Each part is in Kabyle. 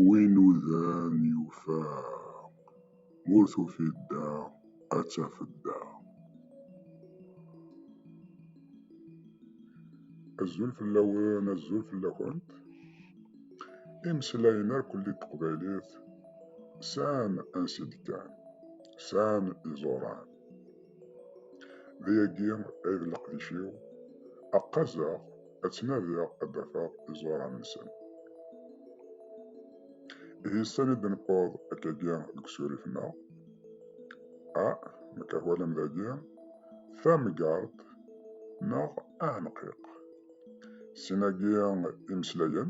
Win udan yufa, ur tufiḍ da ad tafeḍ da. Azul fell-awen, azul fell-akent. Imeslayen irkelli n teqbaylit sɛan ansi d-kkan, sɛan iẓuran. D yagi ay d leqdic-iw, ad qqazeɣ, ad ttnadiɣ ad d-afeɣ iẓuran-nsen. Ihi sani d-newweḍ akkagi deg usurif-nneɣ, a nekk ahwalam dagi, tamgart neɣ aɛenqiq. Sin-agi imeslayen.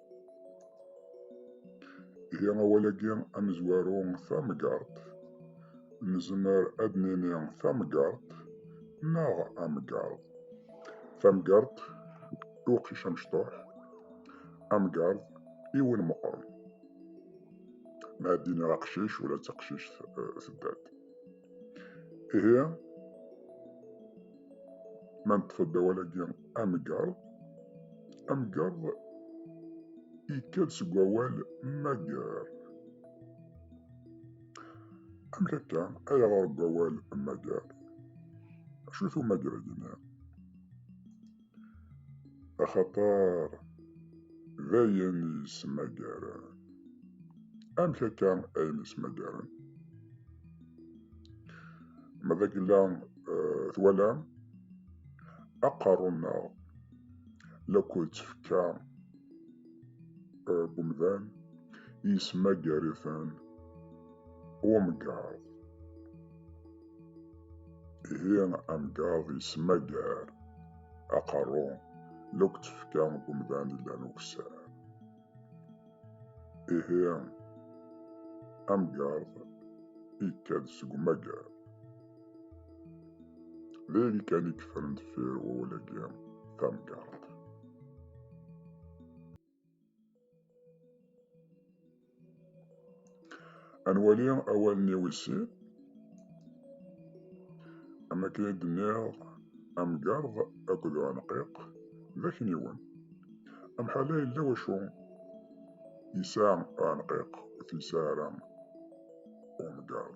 Ihi awal-agi amezwaru tameggaṛt, nezmer ad d-nini tameggaṛt neɣ ameggaṛ. Tameggaṛt i uqcic amecṭuḥ, ameggaṛ i win meqqren. Ma ad d-iniɣ aqcic ula d taqcict tedda-d. Ihi, ma neṭṭef-d awal-agi amgerḍ, amgerḍ yekka-d seg wawal mager. Amek akka ay ɣer deg wawal mager? Acu-t umager-agi-nni? Axaṭer d ayen yesmagaren. Amek akka ayen yesmagaren? Ma d agella eh, twalam aqerru-nneɣ la k-ttefka eh, umdan yesmagar-iten umgaṛ. Ihi amgaḍ yesmagar aqerru luk tefka umdan illan ukessar. Ihi amgaḍ ikad seg umagar. D ayen kan i yeffren deffir wawal-agi tamgaḍt. Ad nwali awalen-iw isin. Am akken i d-nniɣ, amgerḍ akked uɛenqiq d akniwen. Amḥal-a yella wacu yesɛa uɛenqiq ur t-yesɛi ara umgerḍ.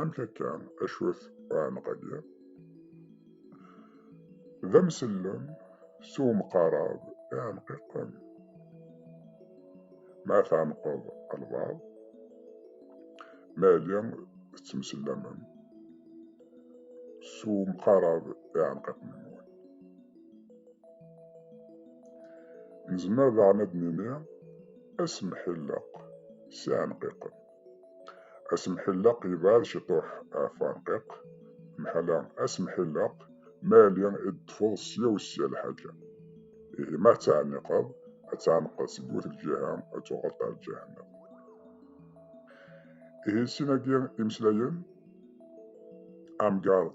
Amek akka acwat uɛenq-agi? D amsellem s umqarab iɛenqiqen. Ma tɛenqeḍ albaɛḍ, ma yali tettemsellamem s umqarab iɛenqiqen-nwen. Nezmer daɣen ad d-nini asemḥilleq s iɛenqiqen. Asemḥelleq yebɛed ciṭuḥ ɣef uɛenqiq, mḥala asemḥelleq ma yali i d-ṭṭfeḍ sya u sya lḥaǧa. Ihi ma tettɛenniqeḍ, ad tɛenqeḍ seg wet lǧiha, ad tuɣaleḍ ar ǧahennem. Ihi sin-agi imeslayen, amgaṛd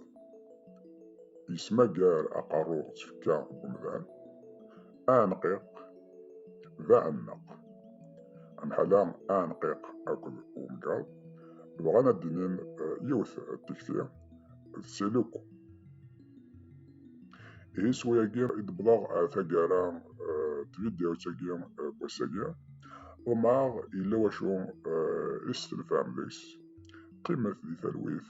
yesmagar aqerru d tfekka n umdan. aneqqiq d aɛemmeq. Amḥala aneqqiq akked umgaḍ bɣan ad d-inin eh, yiwet eh, tikti d siluk. Ihi s wayagi i d-wwḍeɣ eh, taggara tvidyawt-agi n wass-agi. Ḍemɛeɣ yella wacu i s-tenfam deg-s. Qqimet di talwit.